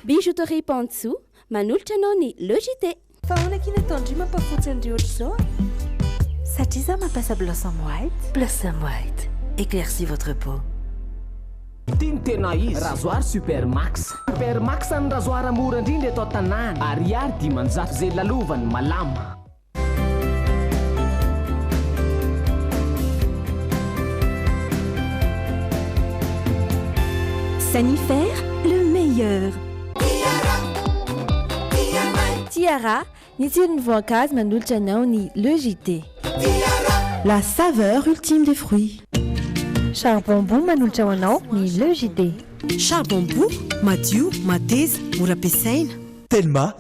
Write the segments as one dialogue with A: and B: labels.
A: Bijouterie Pantsu manolotra anao ny Le JT. Fa ahoana akia ny
B: ataon-dry mampafotsy an'ireo ohatr'izao e?
C: Satria za mampiasa Blossom White. Blossom White,
D: éclaircis votre peau. Ity
E: no tena izy, rasoir super max. Super max ny rasoir mora indrindra eto an-tanàna, ariary dimanjato ze lalovany, malama.
C: Sanifer le meilleur.
F: Tiara, ny tsiron'ny voankazo manolotra anao ny Le JT.
G: La saveur ultime des fruits. Charbon
F: Boo manolotra ho anao ny Le JT. Charbon Boo,
G: madio, mateza, mora ampiasaina. Telma,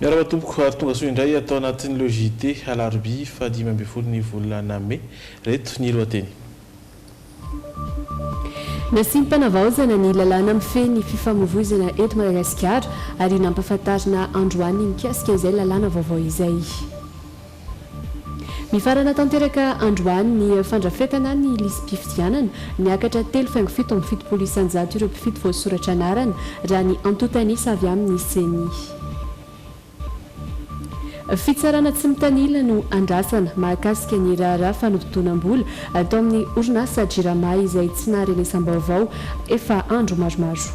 H: Miarahaba tompoko, ary tongasoa indray ato anatin'leo JT alarobia faha dimy ambin'ny folo ny volana mey. Reto ny lohateny.
I: Nasiam-panavaozana ny lalàna mifehy ny fifamoivoizana eto Madagasikara ary nampafantarina androany mikasika izay lalàna vaovao izay. Mifarana tanteraka androany ny fandrafetana ny lisi-pifidianana. Niakatra telo faingo fito amby fitopolo isanjato ireo mpifidy voasoratra anarana, raha ny antontan'isa avy amin'ny Ceni. Fitsarana tsy mitanila no andrasana mahakasika ny raharaha fanompotonam-bola tao amin'ny orinasa Jirama izay tsy naharenesam-baovao efa andro maromaro.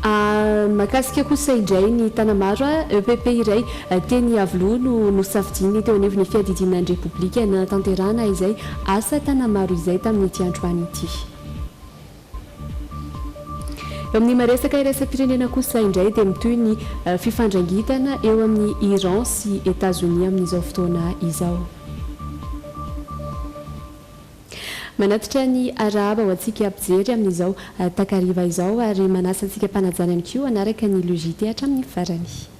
I: Mahakasika kosa indray ny Tanamaro, EPP iray teny Iavoloha no nosafidiany teo anivon'ny fiadidiana ny Repoblika nanatanterahana izay asa Tanamaro izay tamin'ity androany ity. Eo amin'ny maresaka iraisam-pirenena kosa indray dia mitohy ny fifandrangitana eo amin'i Iran sy Etazonia amin'izao fotoana izao. Manatitra ny arahaba ho antsika mpijery amin'izao takariva izao ary manasa antsika mpanajary ihany koa hanaraka ny le JT hatramin'ny farany.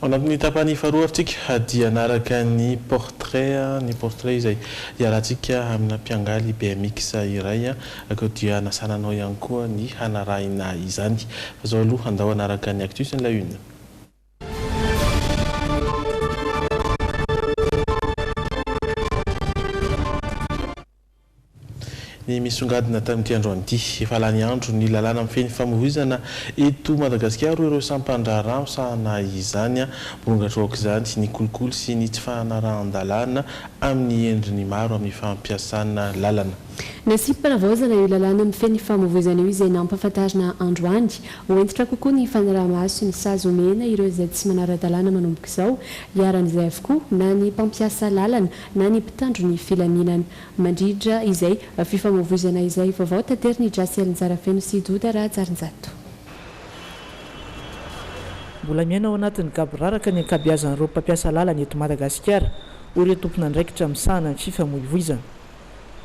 I: Ao
H: anatin'ny tapany faharoa ary tsika dia hanaraka ny portrait, ny portrait izay iarahantsika amina mpiangaly bmx iray ary koa dia hanasana anao ihany koa ny hanarahina izany. Fa izao aloha andao hanaraka ny actus ny la une. Ny misongadina tamin'ity androany ity, efa lany andro ny lalàna mifehy ny famoizana eto Madagasikara hoy ireo sampan-draharaha misahana izany. Mirongatra aok'izany ny kolikoly sy ny tsy fanarahan-dalàna amin'ny endriny maro amin'ny fampiasana lalana. Nasiam-panavaozana
I: io lalàna mifehy ny famoizana io izay nampahafantarina androany. Ho hentitra kokoa ny fanaraha-maso ny sazy omena ireo izay tsy manara-dalàna manomboka izao. Iharan'izay avokoa na ny mpampiasa lalana na ny mpitandro ny filaminana. Mandritra izay fifamoivoizana izay, vaovao taterin'i Jasy Alinjarafeno sy Doda Rahajarinjato.
J: Mbola miaina ao anatin'ny gaboraraka ny ankabeazan'ireo mpampiasa lalana eto Madagasikara, hoy ireo tompon'andraikitra misahana ny fifamoivoizana.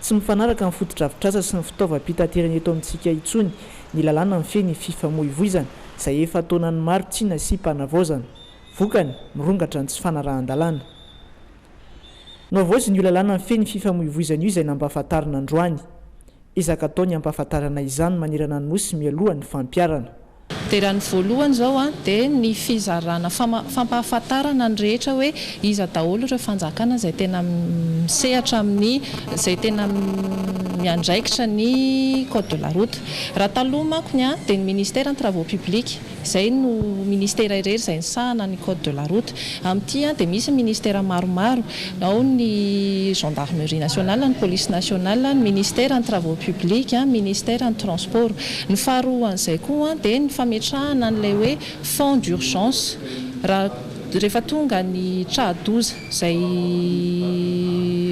J: Tsy mifanaraka amin'ny fotodrafitrasa sy ny fitaovam-pitaterana eto amintsika intsony ny lalàna mifehy ny fifamoivoizana izay efa taonany maro tsy nasiam-panavaozana. Vokany, mirongatra ny tsy fanarahan-dalàna. Nohavaoziny io lalàna mifehy ny fifamoivoizana io izay nampahafantarina androany. Ezaka atao ny hampahafantarana izany manerana ny Nosy mialoha ny fampiharana. Dia raha ny
K: voalohany izao dia ny fizarana fampahafantarana ny rehetra hoe iza daholo ireo fanjakana izay tena misehatra amin'ny izay tena miandraikitra ny code de la route. Raha taloha mankony dia ny ministère ny travaux publics. Izay no ministera irery izay nisahana ny code de la route. Amin'ity dia misy ny ministera maromaro, ao ny gendarmerie nationale, ny police nationale, ny ministera ny travaux publics, ny ministera ny transports. Ny faharoan'izay koa dia ny fametrahana an'ilay hoe fonds d'urgence raha rehefa tonga ny tra-doza. izay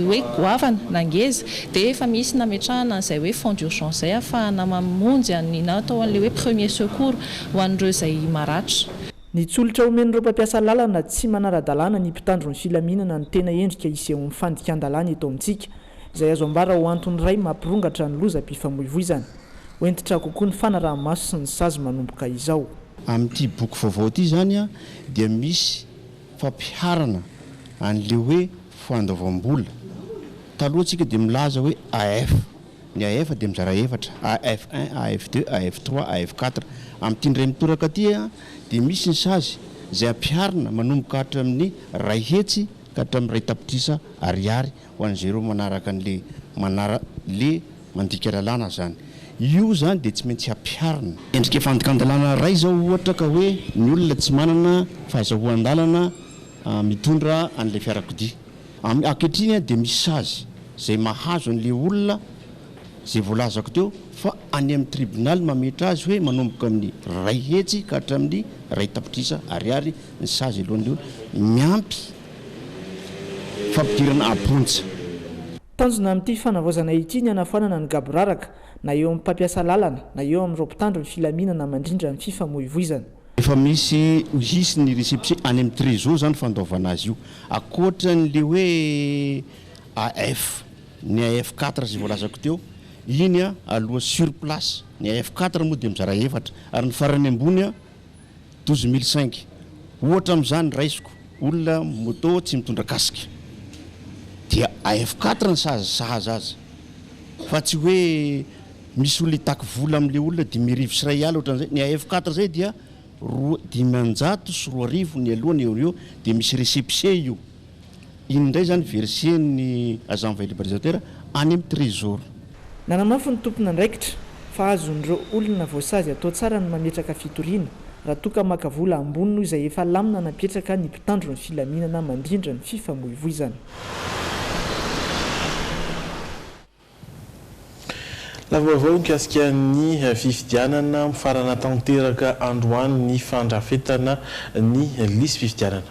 K: hoe goavana na ngeza dia efa misy nametrahana an'izay hoe fonds d'urgence izay hahafahana mamonjy an'i na atao an'ilay hoe premier secours ho an'ireo izay maratra. Nitsolotra
J: omen'ireo mpampiasa lalana tsy manara-dalàna ny mpitandro ny filaminana ny tena endrika isehon'ny fandikan-dalàna eto amintsika, izay azo ambara ho antony iray mampirongatra ny lozam-pifamoivoizana. Ho hentitra kokoa ny fanaraha-maso sy ny sazy manomboka izao. Amin'ity
L: boky vaovao ity izany dia misy. fampiharana an'ilay hoe fandoavam-bola. Taloha isika dia milaza hoe AF. Ny AF dia mizara efatra, AF un, AF deux, AF trois, AF quatre. Amin'ity indray mitoraka ity dia misy ny sazy izay ampiharina manomboka hatramin'ny iray hetsy ka hatramin'ny iray tapitrisa ariary ho an'izay ireo manaraka an'le manara le mandika lalàna zany. Io zany dia tsy maintsy ampiharina. Endrika fandikan-dalàna iray zao ohatra ka hoe ny olona tsy manana fahazahoan-dalana mitondra an'ilay fiarakodia. Am ankehitriny dia misy sazy zay mahazo an'le olona zay voalazako teo fa any amin'ny tribonaly mametra azy hoe manomboka amin'ny ray hetsy ka hatramin'ny ray tapitrisa ariary ny sazy alohan'ny miampy fampidirana am-ponja. Tanjona
J: amin'ity fanavaozana ity ny hanafoanana ny gaboraraka, na eo amin'ny mpampiasa lalana, na eo amin'ireo mpitandro ny filaminana mandrindra ny fifamoivoizana. Efa misy
L: ho hisy ny récépissé any amin'ny Trésor izany fandoavana azy io. Ankoatran'ilay hoe AF, ny AF quatre izay voalazako teo, iny aloha sur place, ny AF quatre moa dia mizara efatra, ary ny farany ambony, douze mille cinq ohatra amin'izany raisiko olona moto tsy mitondra casque dia AF quatre ny sazy sahaza azy fa tsy hoe misy olona hitaky vola amin'ilay olona dimy arivo sy iray alina ohatran'izay ny AF quatre zay dia roa dimanjato sy roa arivo ny aloha ny eo ny eo dia misy récépissé io Ino indray izany verser ny agent envoyé libéralisateur any amin'ny trésor? Nanamafy ny
J: tompon'andraikitra fa azon'ireo olona voasazy atao tsara ny mametraka fitoriana raha toa ka maka vola ambony noho izay efa lamina napetraka ny mpitandro ny filaminana mandrindra ny fifamoivoizana.
H: Lavaovao mikasika ny fifidianana, mifarana tanteraka androany ny fandrafetana ny lisy fifidianana.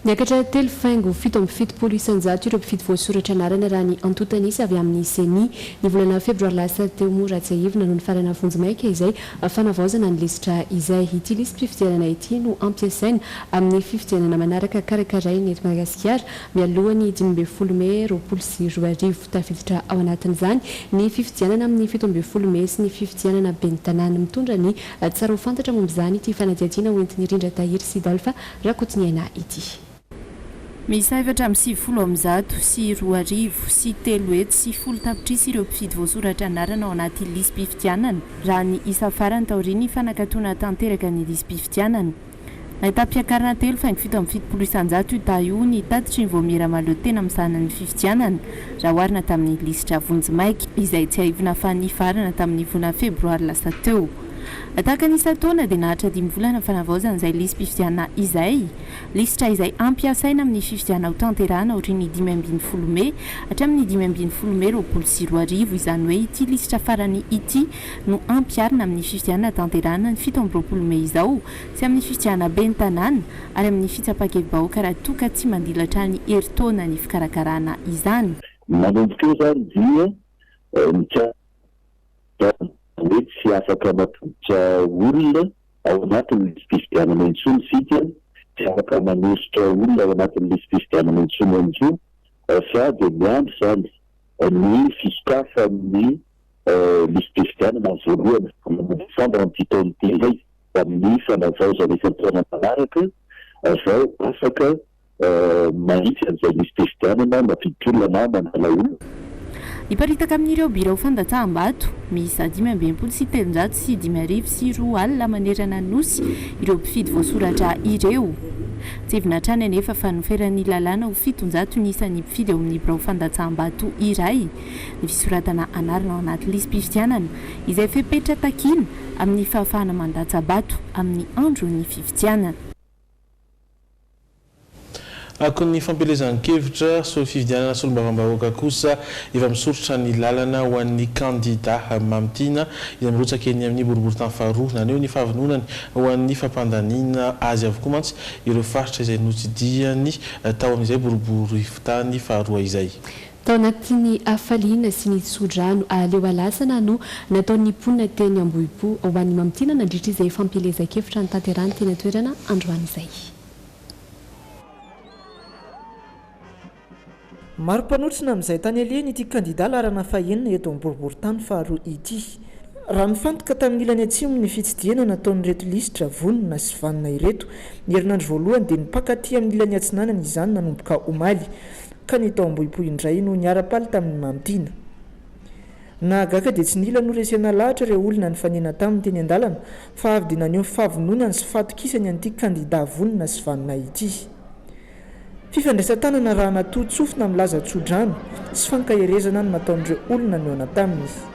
H: Niakatra telo
I: faingo fito amby fitopolo isan-jato ireo mpifidy voasoratra anarana raha ny antontan'isa avy amin'ny ceni. Ny volana febroary lasa teo moa raha tsiahivina no nifarana vonjimaika izay fanavaozana ny lisitra izay. Ity lisy-pifidianana ity no ampiasaina amin'ny fifidianana manaraka karakaraina eto Madagasikara Mialoha ny dimy ambin'ny folo mey roapolo sy roa arivo, tafiditra ao anatin'izany ny fifidianana amin'ny fito ambin'ny folo mey sy ny fifidianana ben'ny tanàna. Mitondra ny tsara ho fantatra momba izany ity fanadihadiana hoentin'i Rindra Tahiry sy Dolpha Rakotoniaina ity. Miisa
M: efatra amby sivifolo amin'ny zato sy roa arivo sy telo hetsy sy folo tapitrisa ireo mpifidy voasoratra anarana ao anaty lisi-pifidianana, raha ny isa farany taorian'ny fanakatona tanteraka ny lisi-pifidianana. Nahita mpiakarana telo faingo fito amby fitopolo isan-jato io dahy io ny tatitry ny vaomiera mahaleo tena mizahana ny fifidianana, raha oharina tamin'ny lisitra vonjimaika izay tsiahivina fa nifarana tamin'ny volana febroary lasa teo. Tahaka ny isan-taona dia naharitra dimy volana fanavaozana izay lisi-pifidianana izay, lisitra izay hampiasaina amin'ny fifidianana hotanterahina aorian'ny dimy ambin'ny folo mey hatramin'ny dimy ambin'ny folo mey roapolo sy roa arivo, izany hoe ity lisitra farany ity. no ampiharina amin'ny fifidianana hatanterahana ny fito amby roapolo mey izao sy amin'ny fifidianana ben'ny tanàna ary amin'ny fitsapan-kevi-bahoaka raha toa ka tsy mandilatra ny herintaona ny fikarakarana izany. Manomboka eo izany
N: dia mikasika ny hoe tsy afaka mampiditra olona ao anatin'ny lisi-pifidianana intsony isika, tsy afaka manosotra olona ao anatin'ny lisi-pifidianana intsony ihany koa fa dia miandry izany ny fisokafan'ny Lisi-pifidianana voalohany amin'ny desambra amin'ity taona ity indray amin'ny fanavaozana isan-taona manaraka vao afaka mahitsy an'izay lisi-pifidianana mampidi-tolona na mandala olona. Hiparitaka
M: amin'ireo birao fandatsaham-bato miisa dimy amby enimpolo sy telonjato sy dimy arivo sy roa alina manerana ny Nosy ireo mpifidy voasoratra ireo. Tsindrina hatrany anefa fa noferan'ny lalàna ho fitonjato ny isan'ny mpifidy ao amin'ny birao fandatsaham-bato iray. ny fisoratana anarana ao anaty lisi-pifidianana izay fepetra takiana amin'ny fahafahana mandatsa-bato amin'ny andron'ny fifidianana.
H: Akon'ny fampielezan-kevitra, so fifidianana solombavambahoaka kosa efa misoritra ny lalana ho an'ny kandida Mamy Tiana izay mirotsaka eny amin'ny boriboritany faharoa. Naneho ny fahavononany ho an'ny fampandaniana azy avokoa mantsy ireo faritra izay notsidihany tao amin'izay boriboritany faharoa izay. Tao anatin'ny
I: hafaliana sy ny tsodrano aleo alasana no nataon'ny mponina teny Ambohipo ho an'ny mamintina nandritra izay fampielezan-kevitra notanterahany teny an-toerana androany izay.
J: Maro mpanotrona amin'izay tany alehany ity kandida laharana fahenina eto amin'ny boriborintany faharoa ity. Raha nifantoka tamin'ny ilany atsimo ny fitsidihana nataon'ireto lisitra vonona sy vanona ireto, ny herinandro voalohany dia nimpakaty amin'ny ilany atsinanana izany nanomboka omaly. ka ny tao Ambohipo indray no niara-paly tamin'i Mamy Tiana. Nahagaga dia tsy nila noresena lahatra ireo olona nifanena taminy teny an-dalana fa avy dia naneho ny fahavononany sy fahatokisany an'ity kandidà vonona sy vanona ity. Fifandraisan-tanana raha natoa-tsofina milaza tso-drano sy fankaherezana no nataon'ireo olona nihaona taminy.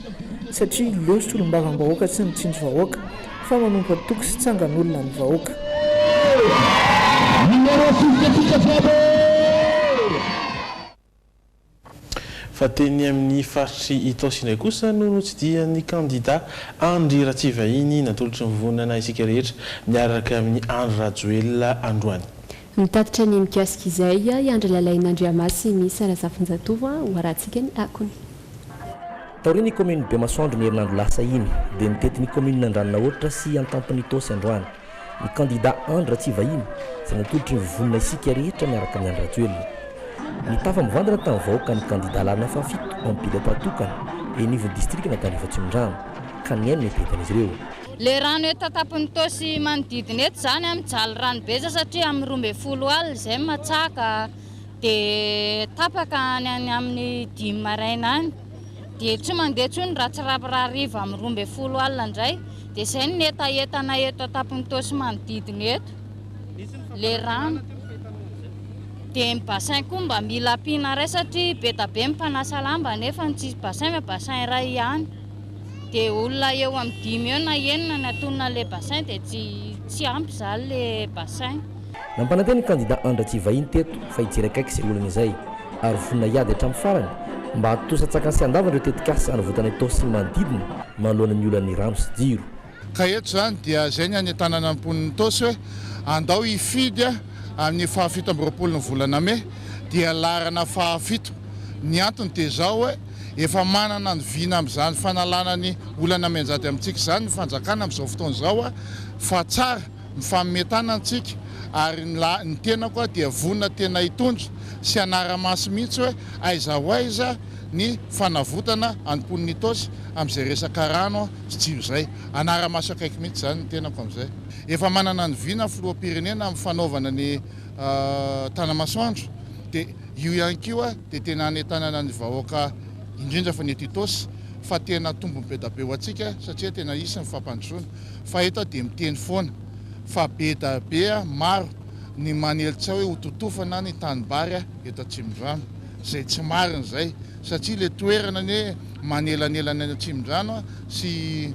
J: satria leo solombavambahoaka tsy mitsinjo vahoaka fa manompo antoko sy tsangan'olona ny vahoaka.
H: Fa teny amin'ny faritr'i Itaosy indray kosa no notsidihan'ny kandida Andry Ratsivahiny natolotry ny vondrona Isika Rehetra miaraka amin'i Andry Rajoelina androany. Mitatitra ny
I: mikasika izay i Andry Lalain'Andriamasimiisa Razafinjatovo ho harantsika ny akony.
O: Taorian'ny kaominin'i Bemasoandro ny herinandro lasa iny, dia nitety ny kaominina Andranonahoatra sy Antampon'Itaosy androany, ny kandidà Andry Ratsivahiny, izay natolotry ny vonona isika rehetra miaraka amin'i Andry Rajoelina. Nitafa mivantana tamin'ny vahoaka ny kandidà lalana fahafito amin'ny bilaoka tokana eny anivon'ny distrikan'Antanrivo Atsimondrano, ka nihaino ny eritreretan'izy ireo. Le rano eto
P: an-tampon'i Toa sy manodidina eto izany an, mijaly rano be izao satria amin'ny roa ambin'ny folo alina izay ny matsaka dia tapaka any amin'ny dimy maraina any dia tsy mandeha intsony raha tsy hariva amin'ny roa ambin'ny folo alina indray dia izay ny hetahetana eto an-tampon'i Toa sy manodidina eto le rano dia ny bassin koa mba mila ampiana iray satria be dia be ny mpanasa lamba nefa ny tsisy bassin fa bassin iray ihany. Dia olona eo amin'ny dimy eo na enina ny atonona ilay bassin dia tsy tsy ampy izany ilay bassin. Nampanantena
O: ny kandida Andratjiva Inteto fa hijery akaiky izay olana izay ary vonona hiady hatramin'ny farany mba hahatontosa an-tsakany sy handavany ireo tetikasa hanavotana Itaosy sy ny manodidina manoloana ny olan'ny rano sy jiro. Ka eto izany
Q: dia izay ny hanentanana ny mponin'i Itaosy hoe andao hifidy amin'ny fahafito amby roapolo ny volana mey dia laharana fahafito. Ny antony dia izao hoe efa manana ny vina amin'izany fanalana ny olana mianjady amintsika izany ny fanjakana amin'izao fotoana izao fa tsara mifanome tanana tsika ary ny tenako dia vonona tena hitondra sy hanara-maso mihitsy hoe aiza ho aiza ny fanavotana an'ny mponin'i Itaosy amin'izay resaka rano Fijery izay. Hanara-maso akaiky mihitsy izany ny tenako amin'izay. Efa manana an'i Vina filoham-pirenena amin'ny fanaovana ny Tanamasoandro dia io ihany koa dia tena hanentanana ny vahoaka indrindra fa ny eto Itaosy fa tena tombony be da be ho antsika satria tena hisy ny fampandrosoana fa eto aho dia miteny foana fa be da be maro ny manelitsao hoe hototofana ny tanimbary eto Atsimondrano izay tsy marina izay satria le toerana anie manelanelana any Atsimondrano sy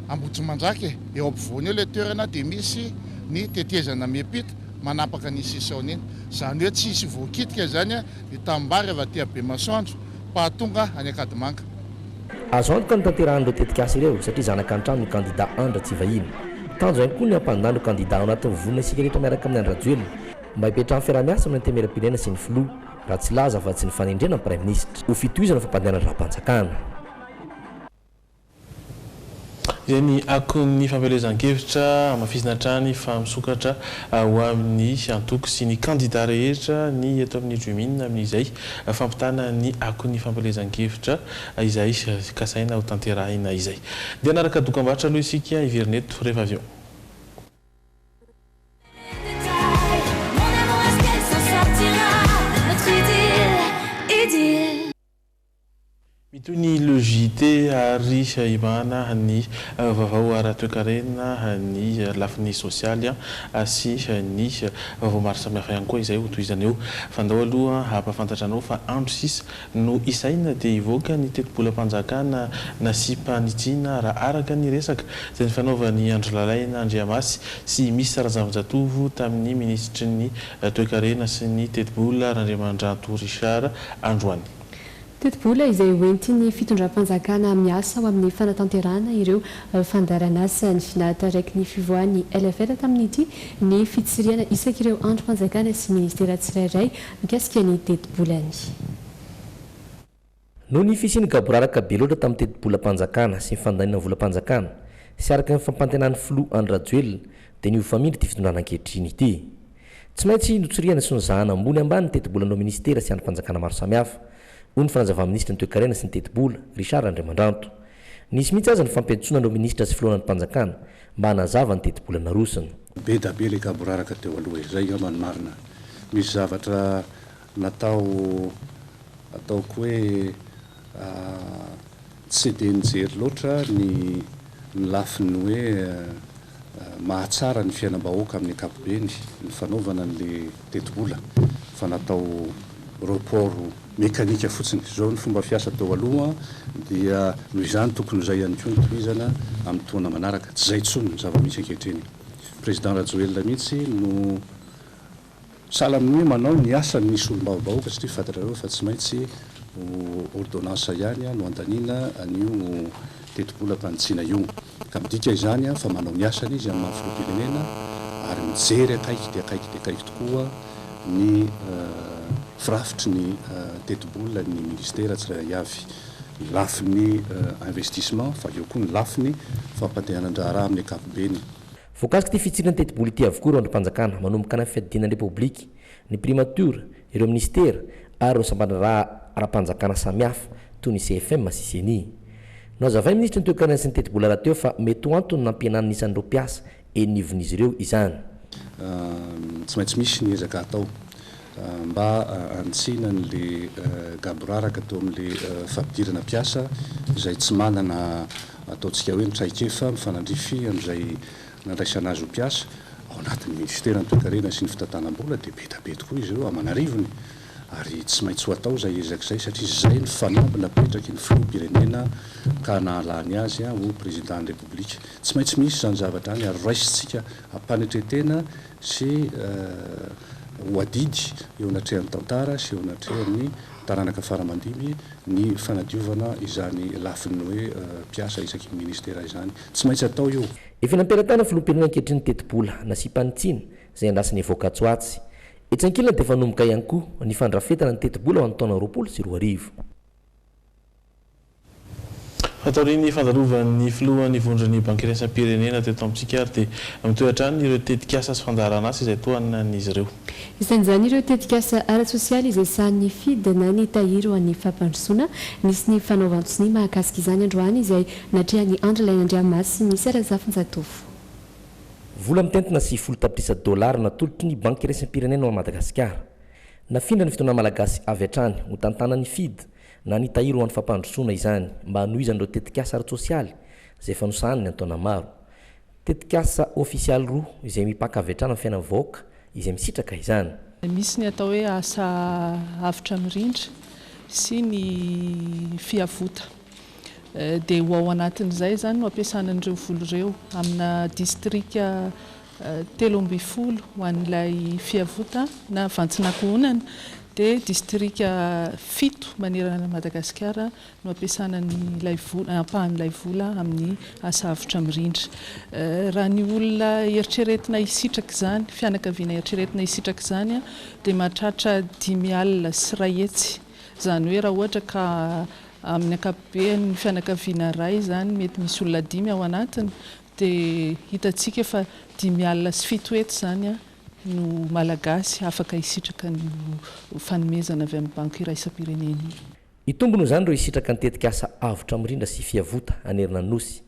Q: Ambohitrimanjaka e, eo ampovoany eo le toerana dia misy ny tetezana miampita manapaka an'iny sisaony iny, zany hoe tsy hisy voakitika izany ny tanimbary avy aty Bemasoandro pahatonga any Ankadimanga. Azo
O: antoka ny tanterahan'ireo tetikasa ireo satria zanaka an-trano ny kandida Andry Ratsivahiny. Tanjona ihany koa ny hampandà ireo kandida ao anatin'ny vonona isika rehetra miaraka amin'i Andry Rajoelina mba hipetrahan'ny fiaraha-miasa amin'ny Antenimierampirenena sy ny Filoha. raha tsy laza afa-tsy ny fanendrena ny Praiminisitra ho fitohizana ny fampandehanana ny raham-panjakana.
H: Izay ny akon'ny fampielezan-kevitra hamafisina hatrany fa misokatra ho amin'ny antoko sy ny kandida rehetra ny eto amin'ny Jumin amin'izay fampitana ny akon'ny fampielezan-kevitra izay kasaina hotanterahina izay. Dia hanaraka dokambarotra aloha isika hiverina eto rehefa avy eo. Mitohy ny Le JT ary hibahana ny vaovao ara-toekarena, ny lafiny sosialy sy ny vaovao maro samihafa ihany koa izay hotohizana eo. Fandao aloha hampahafantatra anao fa andro sisa Noho izany dia hivoaka ny tetibolam-panjakana nasiam-panitsiana raha araka ny resaka izay nifanaovan'i Andry Lalaina Andriamasy sy Miss Razafinjatovo tamin'ny minisitry ny Toekarena sy ny tetibola Randriamandranto Richard androany. Tetibola
I: izay hoentin'ny fitondram-panjakana miasa ho amin'ny fanatanterahana ireo fandaharan'asany. Nahataraiky ny fivoahan'ny LFL tamin'ity ny fitsirihana isak'ireo andrim-panjakana sy minisitera tsirairay Mikasika ny tetibolan'ny.
O: Noho ny fisian'ny gaboraraka be loatra tamin'ny tetibolam-panjakana sy ny fandaninan'ny volam-panjakana sy araka ny fampantenan'ny filoha Andry Rajoelina dia nihofamindra ity fitondrana ankehitriny ity. Tsy maintsy notsirihana sy nozahana ambony ambany ny tetibolan'ireo minisitera sy andrim-panjakana maro samihafa, hoy ny fanazava-minisitry ny Toekarena sy ny tetibola, Richard Andriamandranto. Nisy mihitsy aza ny fampiantsoana ireo minisitra sy filohan'ny mpanjakana mba hanazava ny tetibola narosony. Be da be le
R: gaboraraka teo aloha e! Zay ngamba ny marina. Misy zavatra natao ataoko hoe tsy dia nijery loatra ny lafiny hoe mahatsara ny fiainam-bahoaka amin'ny ankapobeny ny fanaovana an'ilay tetibola fa natao report mekanika fotsiny. Izao ny fomba fiasa teo aloha dia noho izany tokony ho izay ihany koa ny tohizana amin'ny taona manaraka. Tsy izay intsony ny zava-misy ankehitriny. Président Rajoelina mihitsy no Sahala amin'ny hoe manao ny asany ny solombavambahoaka satria fantatrareo fa tsy maintsy ho ordonnance ihany no andaniana an'io tetibolam-panitsiana io ka midika izany fa manao ny asany izy amin'ny maha filoham-pirenena ary mijery akaiky dia akaiky dia akaiky tokoa ny firafitry ny tetibolan'ny ministera tsirairay avy, ny lafiny investissement fa eo koa ny lafiny fampandehanan-draharaha amin'ny ankapobeny. Voakasik'ity
O: fitsirina tetibola ity avokoa ireo andrim-panjakana manomboka ny fiadiana ny Repoblika, ny Primatiora, ireo Minisitera ary ireo sampan-draharaha ara-panjakana samihafa toy ny CFM sy Ceni. Nohazavain'ny Minisitry ny Toekarena sy ny Tetibola rahateo fa mety ho antony nampihenana ny isan'ireo mpiasa eny anivon'izy ireo izany.
R: Tsy maintsy misy ny ezaka atao. mba hanitsiana an'ilay gaboraraka teo amin'ilay fampidirana mpiasa izay tsy manana ataontsika hoe ny traikefa mifanandrify amin'izay nandraisana azy ho mpiasa ao anatin'ny Minisiteran'ny Toekarena sy ny Fitantanam-bola dia be dia be tokoa izy ireo aman'arivony ary tsy maintsy ho atao izay ezaka izay satria izay ny fanamby napetraky ny Filoham-pirenena ka nahalany azy ho Prezidan'ny Repoblika. Tsy maintsy misy izany zavatra izany ary raisintsika ampanetren-tena sy ho adidy eo anatrehan'ny tantara sy eo anatrehan'ny taranaka faramandimby ny fanadiovana izany lafiny hoe mpiasa isaky ny ministera izany. Tsy maintsy atao io. Efa nampelatanan'ny
O: filoham-pirenena ankehitriny ny tetibola nasiam-panitsiana izay andrasany hivoaka atsy ho atsy. Etsy ankilany dia efa hanomboka ihany koa ny fandrafetana ny tetibola ho an'ny taona roapolo sy roa arivo.
H: Fa taorian'ny fandalovan'ny filohan'ny vondron'ny Bankiraisam-pirenena teto amintsika ary dia mitohy hatrany ireo tetikasa sy fandaharan'asa izay tohanan'izy ireo. Isan'izany ireo
I: tetikasa ara-tsosialy izay sahanin'ny fid na ny tahiry ho an'ny fampandrosoana. Nisy ny fanaovan-tsonia mahakasika izany androany izay natrehan'i Andry Lainandriamaso sy Minisy Razafinjatovo.
O: Vola mitentina sivifolo tapitrisa dolara natolotry ny Bankiraisam-pirenena ho an'i Madagasikara. Nafindra ny fitaonan'ny Malagasy avy hatrany ho tantanan'ny fid Na ny tahiry ho an'ny fampandrosoana izany mba hanohizan'ireo tetikasa ara-tsosialy izay efa nosahaniny an-taona maro. Tetikasa ofisialy roa izay mipaka avy hatrany amin'ny fiainan'ny vahoaka izay misitraka izany. Misy ny atao hoe
K: asa avotra mirindra sy ny fiavota. Dia ho ao anatin'izay izany no ampiasana an'ireo vola ireo. Amina distrika telo ambin'ny folo ho an'ilay Fiavota na Vantsin'Ankohonana dia distrika fito manerana an'i Madagasikara no ampiasana an'ilay vola, ampahan'ilay vola amin'ny asa avotra mirindra. Raha ny olona eritreretina hisitraka izany, fianakaviana eritreretina hisitraka izany dia mahatratra dimy alina sy iray hetsy. Izany hoe raha ohatra ka amin'ny ankapobeny fianakaviana iray izany mety misy olona dimy ao anatiny Dia hitantsika fa dimy alina sy fito hetsy izany no Malagasy afaka hisitraka an'io fanomezana avy amin'ny Banky Iraisam-pirenena io. Hitombina ho izany
O: ireo hisitraka ny tetikasa Avotra Mirindra sy Fiavota hanerana ny Nosy,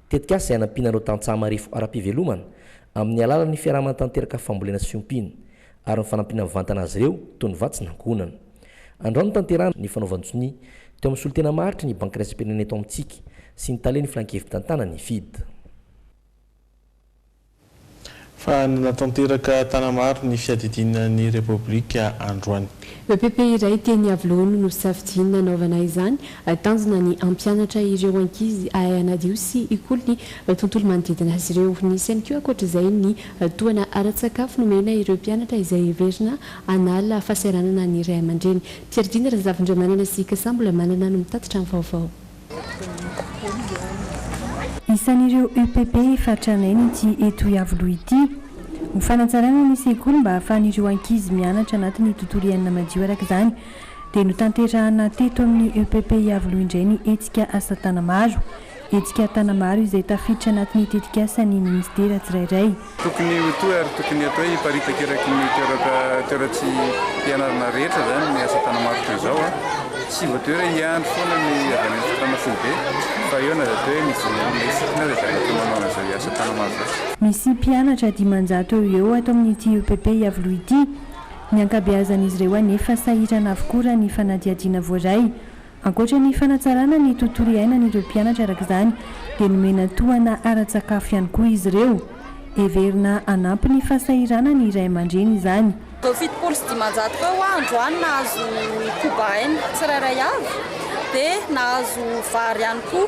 O: tetikasa izay hanampiana ireo tantsaha marefo ara-pivelomana amin'ny alalan'ny fiaraha-manatanteraka fambolena sy fiompiana, ary ny fanampiana mivantana azy ireo toy ny vatsy nankohonana. Andao notanterahana ny fanaovan-tsonia teo amin'ny solontena maharitra ny Banky Iraisam-pirenena eto amintsika sy ny Talen'ny Filankevi-tantàna ny FIDD.
H: Fa nila tanteraka Tanamaro ny fiadidiana ny Repoblika androany. Epp
I: iray teny Iavoloha no safidy nanaovana izany. Tanjona ny hampianatra ireo ankizy hahay hanadio sy hikolo ny tontolo manodidina azy ireo. Nisy ihany koa ankoatra izay ny Tohana ara-tsakafo nomena ireo mpianatra izay heverina hanala fahasahiranana ny ray aman-dreny. Pierdina Razafindramanana sy Kasa mbola manana no mitatitra ny vaovao.
S: Isan'ireo EPP efa tranainy ity eto Iavoloha ity. Ho fanatsarana ny sekoly mba hahafahan'ireo ankizy mianatra anatin'ny tontolo iainana madio araka izany dia notanterahana teto amin'ny EPP Iavoloha indray ny hetsika asa tanamaro. Hetsika tana maro izay tafiditra anatin'ny tetikasan'ny minisitera tsirairay. Tokony ho toa
T: ary tokony hatao hiparitaka eraky ny toeraka toeratsi pianarana rehetra izany ny asa tana maro toy izao a! Tsy voatery hiandry foana ny avy any antsitrano foibe fa eo na dia atao hoe mivory amin'ny sofina aza dia afaka manao an'izao iasa tana maro izao. Misy mpianatra
S: dimanjato eo ho eo ato amin'ity UPP Iavoloha ity. Ny ankabeazan'izy ireo anefa sahirana avokoa raha ny fanadihadiana voaray. Ankoatra ny fanatsarana ny tontolo iainan'ireo mpianatra araka izany dia nomena tohana ara-tsakafo ihany koa izy ireo. Heverina hanampy ny fahasahirana ny ray aman-dreny izany. Ireo fitopolo sy
U: dimanjato teo ho aho androany nahazo cobain tsirairay avy dia nahazo vary ihany koa.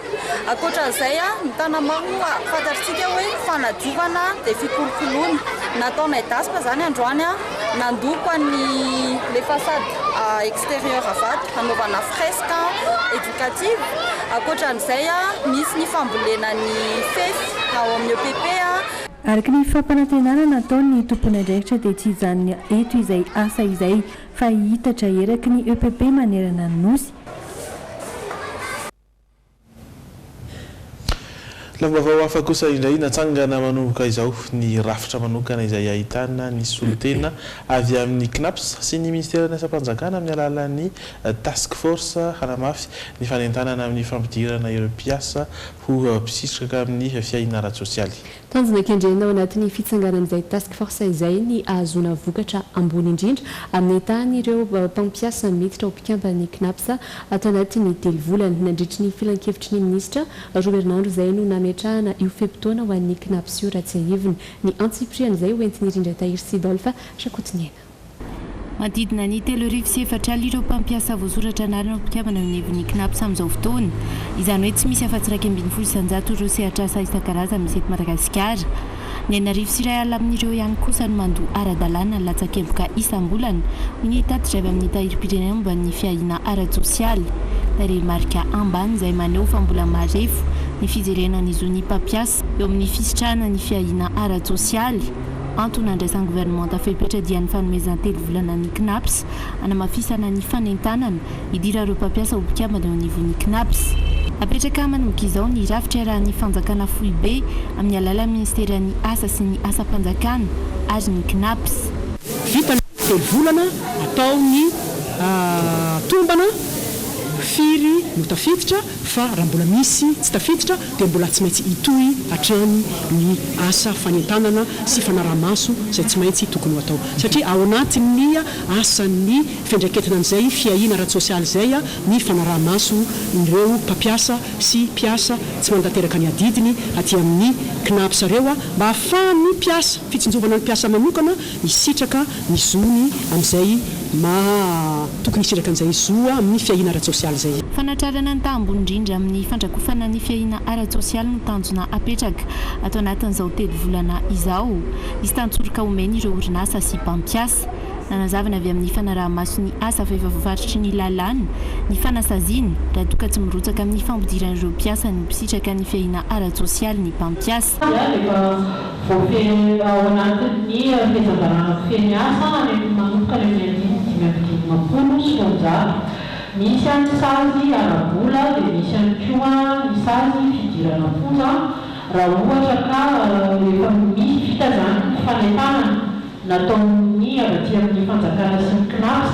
U: Ankoatra izay, ny tanamao moa fantatritsika hoe fanadiovana dia fikolokoloana. Nataonay dasy moa izany androany. Nandoko an'i les façades extérieures avadika hanaovana fresque éducative. Ankoatra an'izay, misy ny fambolena ny fefy ao amin'ny EPP. Araka ny
S: fampanantenana nataon' ny tomponandraikitra dia tsy hijanona eto izay asa izay fa hihitatra eraky ny EPP manerana ny Nosy.
H: Lamim-baovao hafa kosa indray natsangana manomboka izao ny rafitra manokana izay ahitana ny solontena avy amin'ny Cnaps sy ny Minisiteran'ny Asam-panjakana amin'ny alalan'ny Task Force hanamafy ny fanentanana amin'ny fampidirana ireo mpiasa ho mpisitraka amin'ny fiahiana ara-tsosialy. Tanjona kendrena
I: ao anatin'ny fitsanganan'izay Task Force izay ny ahazoana vokatra ambony indrindra amin'ny tahan'ireo mpampiasa miditra ho mpikamban'ny Cnaps ato anatin'ny telo volana. Nandritry ny filankevitry ny minisitra roa herinandro izay no nametrahana io fe-potoana ho an'ny Cnaps io raha tsiahivina. Ny antsipirihan'izay hoentin'i Rindratahiry Sidolphe Rakotoniaina.
M: Manodidina ny telo arivo sy efatra alina ireo mpampiasa voasoratra anarana ho mpikambana eo anivon'ny Cnaps amin'izao fotoana. Izany hoe tsy misy afa-tsy iraika ambin'ny folo isan-jato ireo sehatr'asa isan-karazany misy eto Madagasikara. Ny enina arivo sy iray alina amin'ireo ihany kosa no mandoa ara-dalàna ny latsakemboka isam-bolana, hoy ny tatitra avy amin'ny Tahirim-pirenena momba ny fiahiana ara-tsosialy. Tarehimarika ambany izay maneho fa mbola marefo ny fijerena ny zon'ny mpampiasa eo amin'ny fisitrahana ny fiahiana ara-tsosialy. Antony nandraisan'ny governemanta fepetra dia ny fanomezana telo volana ny Cnaps hanamafisana ny fanentanana hidira ireo mpampiasa ho mpikambana eo anivon'ny Cnaps. Napetraka manomboka izao ny rafitra iarahan'ny fanjakana foibe amin'ny alalan'ny minisiteran'ny Asa sy ny asam-panjakana ary ny Cnaps. Vita ny
V: telo volana atao ny tombana, firy no tafiditra, fa raha mbola misy tsy tafiditra dia mbola tsy maintsy hitohy hatrany ny asa fanentanana sy fanaraha-maso izay tsy maintsy tokony ho atao satria ao anatin'ny asan'ny fiandraiketina an'izay fiahiana ara-tsosialy izay ny fanaraha-maso ireo mpampiasa sy mpiasa tsy manatanteraka ny adidiny aty amin'ny Cnaps ireo mba hahafahan'ny mpiasa, fitsinjovana ny mpiasa manokana. hisitraka ny zony amin'izay maha tokony hisitraka an'izay zo amin'ny fiahiana ara-tsosialy izay. Fanatrarana ny taha ambony
M: indrindra amin'ny fandrakofana ny fiahiana ara-tsosialy no tanjona apetraka ato anatin'izao telo volana izao. Hisy tantsoroka omeny ireo orinasa sy mpampiasa. Nanazava ny avy amin'ny fanaraha-maso ny asa fa efa voafaritry ny lalàna ny fanasaziana raha toa ka tsy mirotsaka amin'ny fampidiran'ireo mpiasa no mpisitraka ny fiahiana ara-tsosialy ny mpampiasa. Voafehezina
W: ao anatin'ny fitsanganana kofehy ny asa any amin'ny manomboka any amin'ny andininy dimy amby dimampolo sy roanjato. Misy any ny sazy ara-bola dia misy ihany koa ny sazy fidirana am-ponja raha ohatra ka efa misy vita izany ny fanentanana nataon'ny avy aty amin'ny fanjakana sy ny Cnaps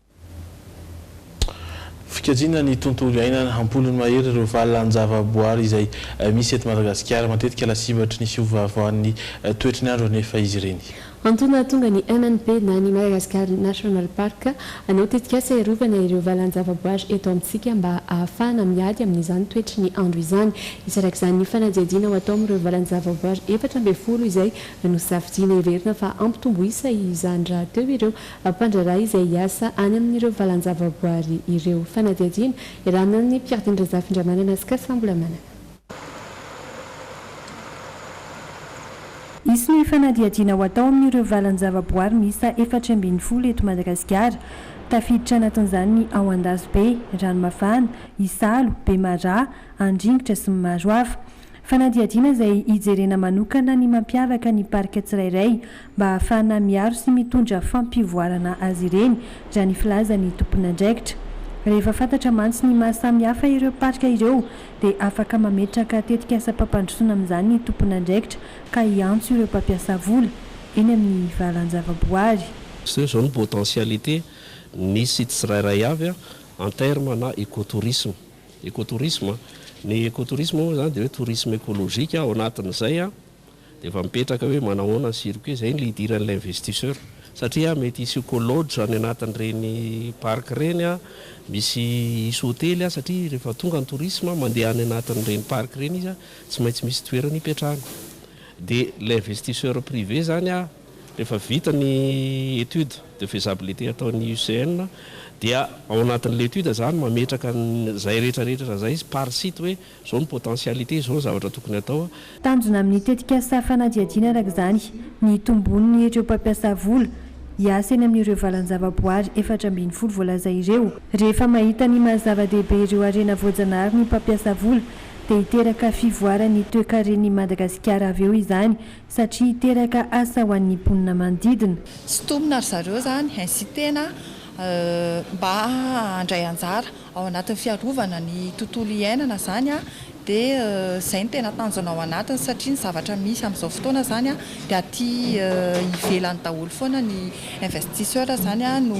H: Fikajiana ny tontolo iainana. Ampolony mahery ireo valan-javaboary izay misy eto Madagasikara. Matetika lasibatry ny fiovaovan'ny toetry ny andro anefa izy ireny. Antony nahatonga ny
I: MNP na ny Madagascar National Park hanao tetikasa hiarovana ireo valan-javaboary eto amintsika mba hahafahana miady amin'izany toetry ny andro izany. Isarak'izany ny fanadihadiana ho atao amin'ireo valan-javaboary efatra ambin'ny folo izay nosafidiana. Heverina fa hampitombo isa izany rahateo ireo Ampandraraha izay hiasa any amin'ireo valan-javaboary ireo. Fanadihadiana iarahana amin'i Pierre-Denis Razafindramanana sy Cassa Ambolamanana.
S: Hisy ny fanadihadiana ho atao amin'ireo valan-javaboary miisa efatra ambin'ny folo eto Madagasikara. Tafiditra anatin'izany ny ao Andazobe, Ranomafana, Isalo, Bemaraha, Andringitra sy ny maro hafa. Fanadihadiana izay hijerena manokana ny mampiavaka ny parika tsirairay mba hahafahana miaro sy mitondra fampivoarana azy ireny, raha ny filazan'ny tomponandraikitra. Rehefa fantatra mantsy ny maha samy hafa ireo parika ireo dia afaka mametraka tetikasam-pampandrosoana amin'izany ny tomponandraikitra ka hiantso ireo mpampiasa vola eny amin'ny valan-javaboary. Zao izao ny
A: potentialités misy tsirairay avy en terme na écotourisme. Ekotourisme, ny ekotourisme moa izany dia hoe tourisme écologique ao anatin'izay dia efa mipetraka hoe manahoana ny circuit, izay no hidiran'ilay investisseur satria mety hisy eco-lodge any anatin'ireny parc ireny, misy hisy hotely satria rehefa tonga ny tourisme mandeha any anatin'ireny parc ireny izy tsy maintsy misy toerana hipetrahany dia ilay investisseur privé izany Rehefa vita ny étude de faisabilité ataon'ny UCN dia ao anatin'ilay étude izany mametraka an'izay rehetrarehetra izay par site hoe izao ny potentialité, izao ny zavatra tokony atao. Tanjona amin'ny
S: tetikasa fanadihadiana araka izany ny hitomboan'ny ireo mpampiasa vola hiasa eny amin'ireo valan-javaboary efatra ambin'ny folo voalaza ireo. Rehefa mahita ny maha zava-dehibe ireo harena voajanahary ny mpampiasa vola dia hiteraka fivoaran'ny toekaren'i Madagasikara avy eo izany Satria hiteraka asa ho an'ny mponina manodidina. Sintomina ry zareo
U: izany, ainsi tena mba handray anjara ao anatin'ny fiarovana ny tontolo iainana izany dia izay no tena tanjona ao anatiny satria ny zavatra misy amin'izao fotoana izany dia aty ivelany daholo foana ny investisseurs izany no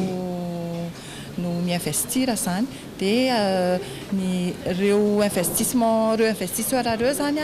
U: no mi-investir izany dia ny ireo investissement ireo investisseurs ireo izany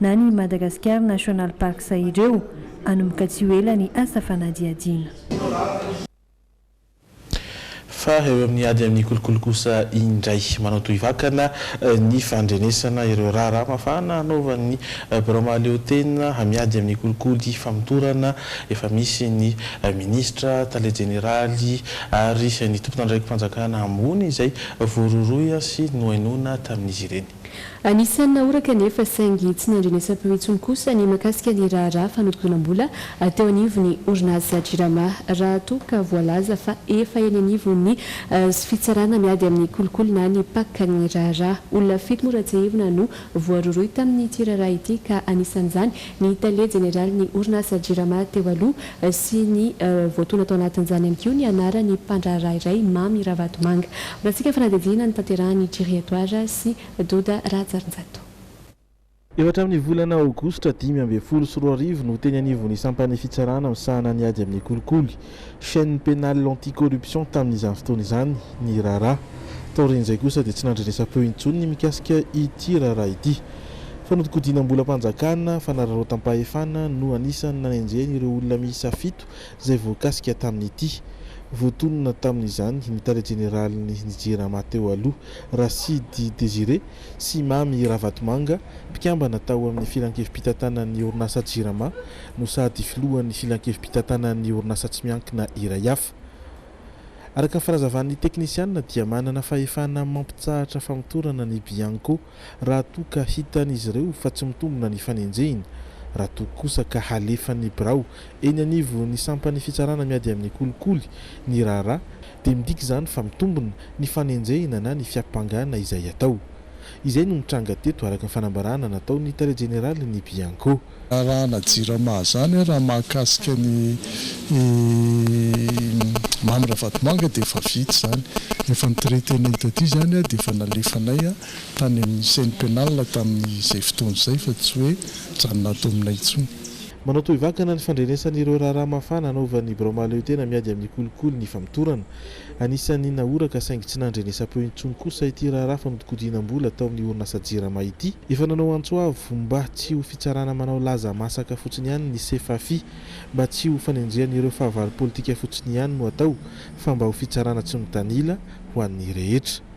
S: na ny Madagascar National Parks ireo, hanomboka tsy ho ela ny asa fanadihadiana.
H: Fa eo amin'ny ady amin'ny kolikoly kosa indray, manao tohivakana ny fandrenesana ireo raharaha mafana hanaovan'ny Birao mahaleotena hamiady amin'ny kolikoly famotorana efa misy ny Minisitra, Tale Jeneraly ary ny Tomponandraiki-panjakana ambony izay voarohirohy sy nohainoana tamin'izy ireny. Anisan'ny nahoraka
I: anefa saingy tsy nandrenesam-peo intsony kosa ny mahakasika ny raharaha fanodinkodinam-bola teo anivon'ny orinasa Jirama raha toa ka voalaza fa efa eny anivon'ny fitsarana miady amin'ny kolikoly na ny pac ny raharaha. Olona fito moa Ratsehivina no voarohirohy tamin'ity raharaha ity ka anisan'izany ny tale jeneralin'ny orinasa Jirama teo aloha sy ny voatoana tao anatin'izany ihany koa ny anaran'ny mpandraharaha iray, Mamy Ravatomanga. Ratsika ny fanadihadiana notanterahan'i Jiri Edouard sy Doda Rahajarinjato.
B: Efa hatramin'ny volana aogositra dimy ambin'ny folo sy roa arivo no teny anivon'ny sampan'ny fitsarana misahana ny ady amin'ny kolikoly Chaîne pénale anti-corruption tamin'izany fotoana izany ny Rara. Taorian'izay kosa dia tsy nandrenesam-peo intsony ny mikasika ity Rara ity. Fanodikodinam-bolam-panjakana, fanararaotam-pahefana no anisan'ny nanenjehany ireo olona miisa fito izay voakasika tamin'ity. Voatonona tamin'izany ny tale jeneralin'ny ny Jirama teo aloha, Rasidy Désiré sy Mamy Ravatomanga, mpikambana tao amin'ny filankevi-pitantanan'ny orinasa Jirama, no sady filohan'ny filankevi-pitantanan'ny orinasa tsy miankina iray hafa. Araka ny fanazavan'ny teknisianina dia manana fahefana mampitsahatra famotorana ny Bianco raha toa ka hitan'izy ireo fa tsy mitombina ny fanenjehina, raha toa kosa ka halefan'ny birao eny anivon'ny sampan'ny fitsarana miady amin'ny kolikoly ny raharaha dia midika izany fa mitombina ny fanenjehina na ny fiampangana izay atao. Izay no nitranga teto araka ny fanambarana nataon'ny tale jeneralin'ny Bianco. Raharahanà
C: Jirama izany a, raha mahakasika an'i Mamy Ravatomanga dia efa vita izany. Efa nitreter-nay hita ity izany a, dia efa nalefanay tany amin'ny chaine pénale tamin'izay fotoana izay fa tsy hoe mijanona ato aminay intsony. Manao tohivakana
B: ny fandrenesan'ireo raharaha mafana hanaovan'ny Birao Mahaleotena miady amin'ny kolikoly ny famotorana. Anisan'ny nahoraka saingy tsy nandrenesam-peo intsony kosa ity raharaha fanodikodinam-bola tao amin'ny orinasa Jirama ity. Efa nanao antso avo mba tsy ho fitsarana manao laza masaka fotsiny ihany ny Sefafi, mba tsy ho fanenjehan'ireo fahavalo politika fotsiny ihany no atao fa mba ho fitsarana tsy mitanila ho an'ny rehetra.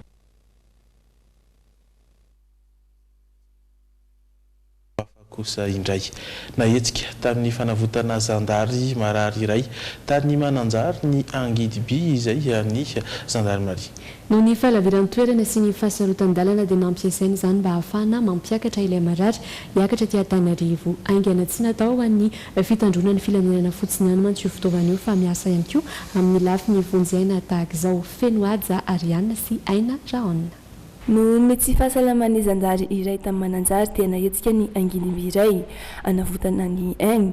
H: Hafa kosa indray, nahetsika tamin'ny fanavotana zandary marary iray tany Mananjary ny angidiby izay an'ny zandarimaria. Noho ny
I: fahalaviran-toerana sy ny fahasarotan-dalana dia nampiasaina izany mba hahafahana mampiakatra ilay marary hiakatra aty Antananarivo haingana. Tsy natao ho an'ny fitandroana ny filanonana fotsiny ihany mantsy io fitaovana io fa miasa ihany koa amin'ny lafiny vonjy aina tahaka izao. Feno haja Ariana sy Aina Rahaonina. Noho ny tsy
S: fahasalaman'ny zandary iray tany Mananjary dia nahetsika ny angidim-by iray hanavotana ny aigny,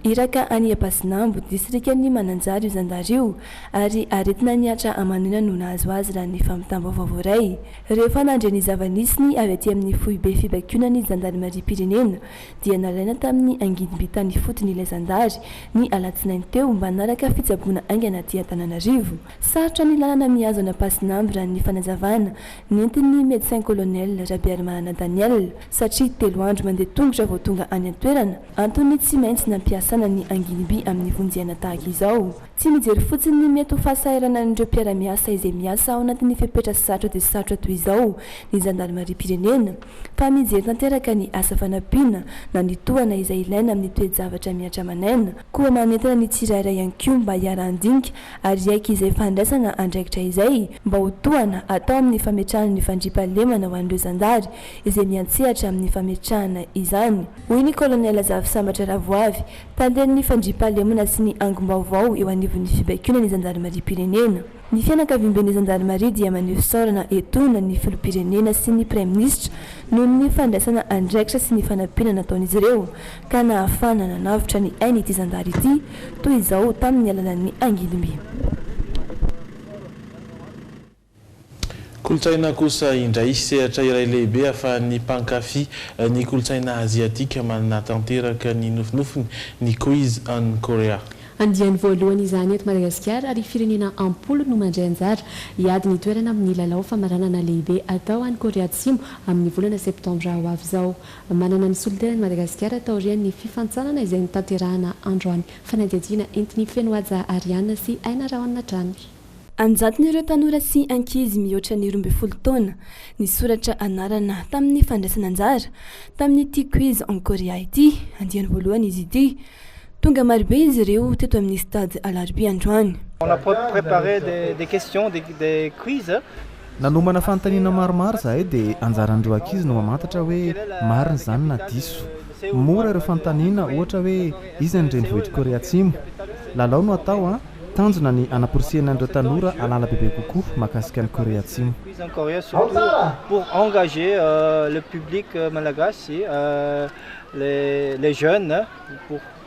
S: iraka any Ampasinambo, distrikan'i Mananjary io zandary io ary aretina nihatra aman'aina no nahazo azy raha ny fampitam-baovao voaray. Rehefa nandre ny zava-nisy ny avy aty amin'ny foibe fibakionan'ny zandarimariam-pirenena dia nalaina tamin'ny angidim-by tany ifotony ilay zandary ny alatsinainy teo mba hanaraka fitsaboana haingana aty Antananarivo. Sarotra ny lalana mihazona Pasin'Amby raha ny fanazavana nentin'ny Médecin Colonel Rabearimanana Daniel satria telo andro mandeha tongotra vao tonga any an-toerana. Antony tsy maintsy nampiasana ny anginiby amin'ny vonjehana tahaka izao. Tsy mijery fotsiny ny mety ho fahasahiranan'ireo mpiara-miasa izay miasa ao anatin'ny fepetra sarotra dia sarotra toy izao ny zandarimariam-pirenena fa mijery tanteraka ny asa fanampiana na ny tohana izay ilaina amin'ny toe-javatra mihatra aman'aina koa manentana ny tsirairay ihany koa mba hiara-handinika ary hiaiky izay fandraisana andraikitra izay mba ho tohana atao amin'ny fametrahana ny fandriampahalemana ho an'ireo zandary izay miantsehatra amin'ny fametrahana izany, hoy ny Kolonela Zafy Sambatra Ravoavy, talen'ny fandriampahalemana sy ny angom-baovao eo anivon'ny fibaikoana ny zandarimariam-pirenena. Ny fianakaviamben'ny zandarimaria dia maneho fisaorana etoana ny filoham-pirenena sy ny Praiminisitra noho ny fandraisana andraikitra sy ny fanampiana nataon'izy ireo ka nahafahana nanavotra ny ain'ity zandary ity toy izao tamin'ny alalan'ny angidim-by.
H: Kolontsaina kosa indray, sehatra iray lehibe ahafahan'ny mpankafy ny kolontsaina aziatika manana tanteraka ny nofinofiny ny Quiz on Korea. Andiany voalohany
I: izany eto Madagasikara ary firenena am-polo no mandray anjara hiady ny toerana amin'ny lalao famaranana lehibe atao any Korea Atsimo amin'ny volana septambra ho avy izao. Manana ny solontenany i Madagasikara taorian'ny fifantsanana izay notanterahana androany. Fanadihadiana entin'ny feno haja Ariane sy Aina Rahon hatrany. An-jatony ireo
S: tanora sy ankizy mihoatra ny roa ambin'ny folo taona nisoratra anarana tamin'ny fandraisana anjara tamin'ity Quiz en Korea ity. Andiany voalohany izy ity. Tonga marobe izy ireo teto amin'ny Stade Alarobia androany.
D: Nanomana
E: fanontaniana maromaro izahay dia anjaran'ireo ankizy no mamantatra hoe marina izany na diso. Mora ireo fanontaniana, ohatra hoe iza ny renivohitr'i Korea Atsimo? Lalao no atao an! Tanjona ny hanaporisihina an'ireo tanora hahalala bebe kokoa mahakasika an'i Korea Atsimo.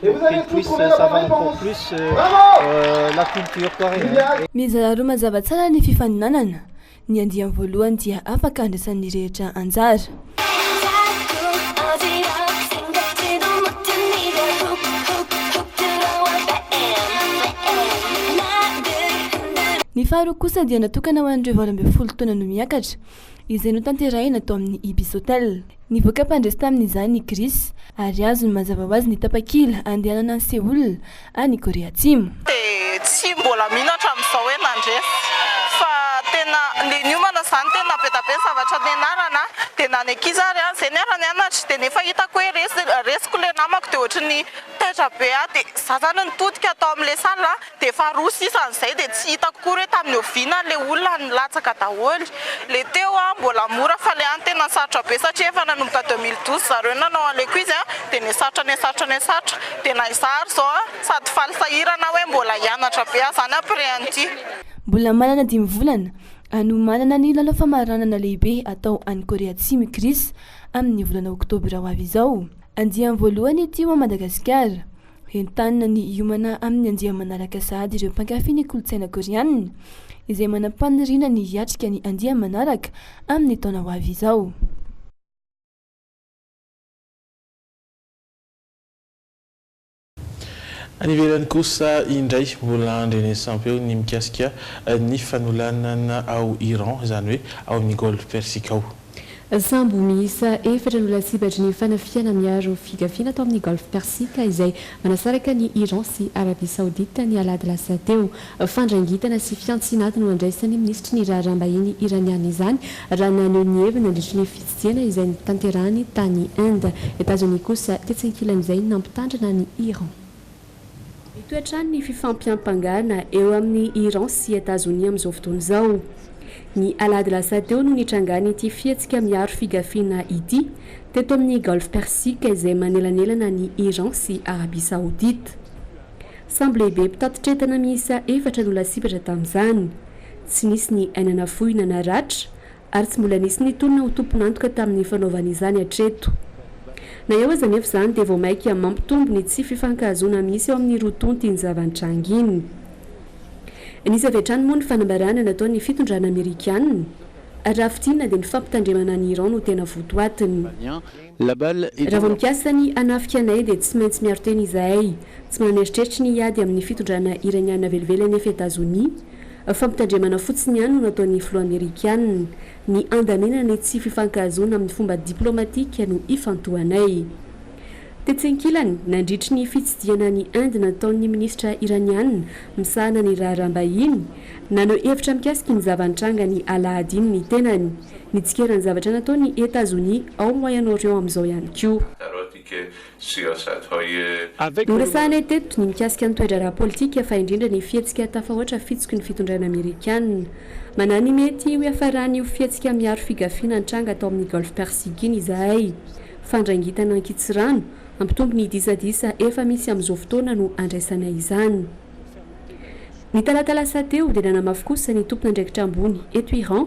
D: Qu'il puisse savoir encore plus la culture coréenne. Mizara roa mazava
S: tsara ny fifaninanana, ny andiany voalohany dia afaka andraisan'ny rehetra anjara. Ny faharoa kosa dia natokana ho an'ireo valo ambin'ny folo taona no miakatra, izay notanterahina tao amin'ny Ibis Hotel. Nivoaka mpandresy tamin'izany i Chris, ary azony mazava ho azy ny tapakila handehanana an'i Seoul, any Korea Atsimo. dia tsy
F: mbola mino hatramin'izao hoe nandresy fa tena le niomana zany tena navetabe ny zavatra nianarana dia na ny ankizy ary ah zay niara nianatra dia nefa hitako hoe resy resiko le namako dia ohatry ny taitra be ah dia za zany nitodika tao amle salle Dia faharoa sisa an'izay dia tsy hitako akory hoe tamin'ny oviana ilay olona nilatsaka daholo. Ilay teo an, mbola mora fa ilay an tena sarotra be satria efa nanomboka deux mille douze zareo nanao an'ilay quiz an, dia nihasarotra nihasarotra nihasarotra. Dia na izaho ary izao an, sady faly sahirana hoe mbola
S: hianatra
F: be aho izany après an'ity.
S: Mbola
F: manana dimy
S: volana hanomanana ny lalao famaranana lehibe atao any Korea Atsimo i Chris, amin'ny volana oktobra ho avy izao. Andiany voalohany ity ho an'i Madagasikara. Entanina ny hiomana amin'ny andiamanaraka sahady ireo mpankafy ny kolontsaina Koreana, izay manam-paniriana ny hiatrika ny andiamanaraka amin'ny taona ho avy izao.
H: Any ivelany kosa indray, mbola andrenesam-peo ny mikasika ny fanolanana ao Iran, izany hoe ao amin'ny Golfe Persique ao. Sambo
I: miisa efatra no lasibatry ny fanafihana miaro figafiana tao amin'ny Golfe Persique izay manasaraka an'i Iran sy Arabie Saoudite ny alahady lasa teo. Fandrangitana sy fiantsinaty no andraisan'ny minisitry ny raharaham-bahiny Iraniana izany raha naneho ny heviny nandritry ny fitsidihana izay notanterahany tany Inde. Etazonia kosa tetsy ankilan'izay nampitandrina an'i Iran. Mitohy hatrany ny fifampiampangana eo amin'i Iran sy Etazonia amin'izao fotoana izao. Ny alahady lasa teo no nitrangan'ity fihetsika miaro figafiana ity teto amin'ny Golfe Persique izay manelanelana an'i Iran sy Arabia Saodita. Sambo lehibe mpitatitr-entana miisa efatra no lasibatra tamin'izany. Tsy nisy ny aina nafoy na naratra ary tsy mbola nisy nitolona ho tompon'antoka tamin'ny fanaovana izany hatreto. Na eo aza anefa izany dia vao maika mampitombo ny tsy fifankahazoana misy eo amin'ny roa tonta iny zava-nitranga iny. Nisy avy hatrany moa ny fanambarana nataon'ny fitondrana amerikana, raha fintinina dia ny fampitandremana an'i Iran no tena votoatiny. Raha vao mikasa ny hanafika anay dia tsy maintsy miaro tena izahay. Tsy manana eritreritry ny hiady amin'ny fitondrana Iraniana velively anefa i Etazonia. Fampitandremana fotsiny ihany no nataon'ny filoha Amerikana. Ny handaniana ny tsy fifankahazoana amin'ny fomba diplaomatika no ifantohanay. Tetsy ankilany, nandritry ny fitsidihana an'i Inde nataon'ny minisitra Iraniana misahana ny raharaham-bahiny, naneho hevitra mikasika ny zava-nitranga ny alahady iny ny tenany. Nitsikera ny zavatra nataon' i Etazonia ao Moyen Orient amin' izao ihany koa. Noresahanay teto ny mikasika ny toe-draharaha pôlitika fa indrindra ny fihetsika tafahoatra fitsiky ny fitondrana amerikana. Manahy ny mety ho hiafaran' io fihetsika miaro figafiana nitranga tao amin' ny Golf Persique iny izahay. Fandrangitana ankitsirano, hampitombo ny disadisa efa misy amin' izao fotoana no andraisanay izany. Ny talata lasa teo dia nanamafy kosa ny tompon' andraikitra ambony eto Iran,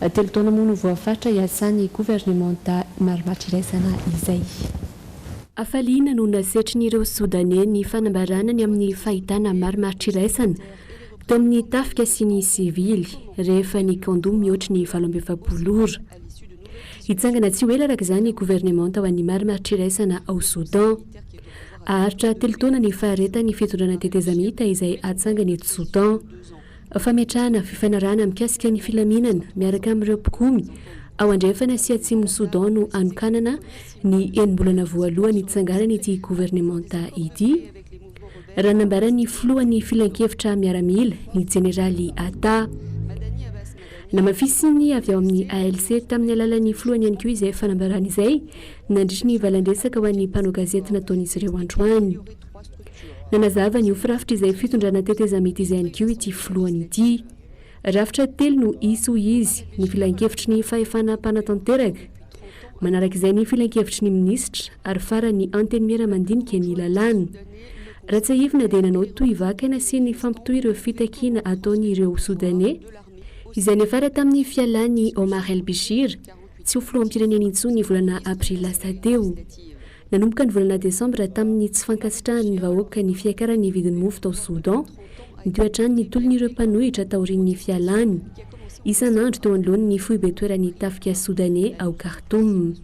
I: Telo taona moa no voafaritra hiasan'ny governemanta marimaritra iraisana izay. Hafaliana no nasetrin'ireo Sodaney ny fanambarana ny amin'ny fahitana marimaritra iraisana teo amin'ny tafika sy ny sivily rehefa nikando mihoatry ny valo amby efapolo ora. Hitsangana tsy ho ela araka izany ny governemanta ho an'ny marimaritra iraisana ao Sodan. Haharitra telo taona ny faharetan'ny fitondrana tetezamita izay hatsangany eto Sodan. Fametrahana fifanarahana mikasika ny filaminana miaraka amin'ireo mpikomy ao andrefana sy atsimon'i Soudan no hanokanana ny enim-bolana voalohany hitsanganan'ity governemanta ity, raha nambaran'ny filohan'ny Filankevitra Miaramila, ny Jeneraly Atta. Namafisin'ny avy ao amin'ny ALC tamin'ny alalan'ny filohany ihany koa izay fanambarana izay nandritry ny valandresaka ho an'ny mpanao gazety nataon'izy ireo androany. Nanazava ny ho firafitr' izay fitondrana tetezamita izay ihany koa ity filohany ity. Rafitra telo no hisy hoy izy, ny filankevitry ny fahefana mpanatanteraka, manaraka izay ny filankevitry ny minisitra ary farany ny antenimiera mandinika ny lalàna. Raha tsiahivina dia nanao tohy vakana sy nifampitohy ireo fitakiana ataon'ireo Sodaney izay niafara tamin'ny fialàn'i Omar el-Bishir, Tsy ho filoham-pirenena intsony ny volana aprily lasa teo. Nanomboka ny volana desambra tamin'ny tsy fankasitrahan'ny vahoaka ny fiakaran'ny vidin'ny mofo tao Soudan, nitohy hatrany ny tolon'ireo mpanohitra taorian'ny fialany isan'andro teo anoloany ny foibe toeran'ny tafika Soudanais ao Khartoum.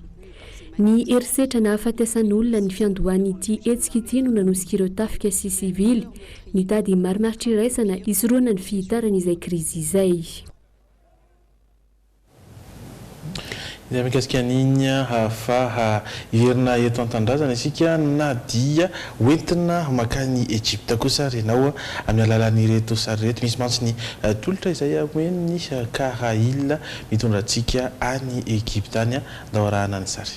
I: Ny herisetra nahafaty asan'olona ny fiandohan'ity hetsika ity no nanosik'ireo tafika sy sivily nitady marimaritra iraisana hisorohana ny fihitaran'izay krizy izay.
H: Izay mikasika an'iny hahafaha hierina eto an-tanindrazana isika na dia hoentina makany Egypta kosa ary ianao amin'ny alalan'ireto sary ireto. Misy mantsy ny tolotra izay omen'ny Karail mitondra antsika any Egypta any. Andao arahana ny sary.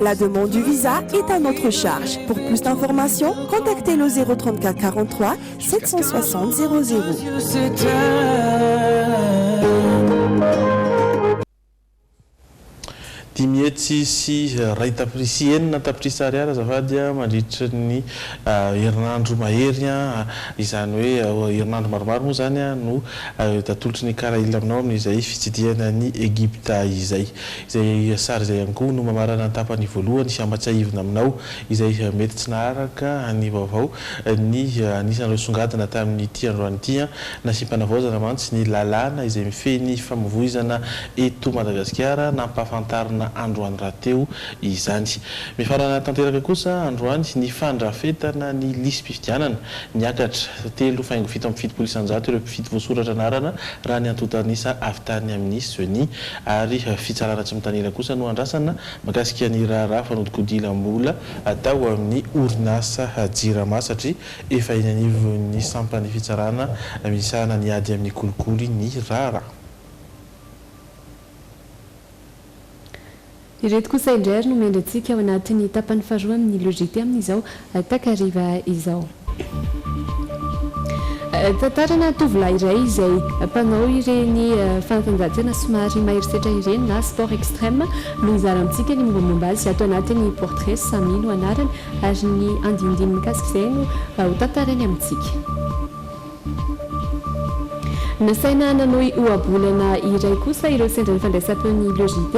X: La demande du visa est à notre charge. Pour plus d'information, contactez le 034 43 760 00.
H: Dimy hetsy sy iray tapitrisa, enina tapitrisa ariary azafady a, mandritry ny herinandro mahery a, izany hoe herinandro maromaro moa izany no atolotry ny Karail aminao amin'izay fitsidihana an'i Egypta izay. Izay sary izay ihany koa no mamarana ny tapany voalohany sy hampatsiahivina aminao izay mety tsy naharaka ny vaovao ny anisan'ireo songadina tamin'ity androany ity. Nasiam-panavaozana mantsy ny lalàna izay mifehy ny famovoizana eto Madagasikara, nampahafantarina androany rahateo izany. Mifarana tanteraka kosa androany ny fandrafetana ny lisi-pifidianana. Niakatra telo faingo fito amby fitopolo isanjato ireo mpifidy voasoratra anarana raha ny antontan'isa avy tany amin'ny Ceni. ary fitsarana tsy mitanila kosa no andrasana mikasika ny raharaha fanodikodilam-bola atao amin'ny orinasa Jirama satria efa eny anivon'ny sampan'ny fitsarana misahana ny ady amin'ny kolikoly ny raharaha.
I: Ireto kosa indray ary no mendry antsika ao anatin'ny tapany faharoa amin'ny Logité amin'izao takariva izao. Tantarana tovolahy iray izay mpanao ireny fanatanjahantena somary maherisetra ireny na sport extreme no hizara amintsika ny mombamomba azy ato anatin'ny Portrait, Samy no anarany ary ny andinindiny mikasika izay no ho tantarainy amintsika. Nasaina nanohy ohabolana iray kosa ireo sendra ny fandraisam-peon'ny Le JT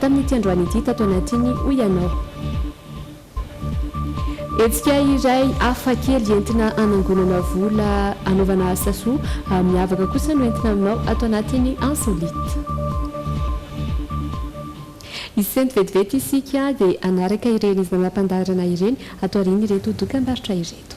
I: tamin'ity androany ity tato anatiny, hoy ianao. Hetsika iray hafa kely entina hanangonana vola hanaovana asa soa miavaka kosa no entina aminao ato anatin'ny Insolite. Hisento vetivety isika dia hanaraka ireny zana-pandaharana ireny ato aorian'ireto dokam-barotra ireto.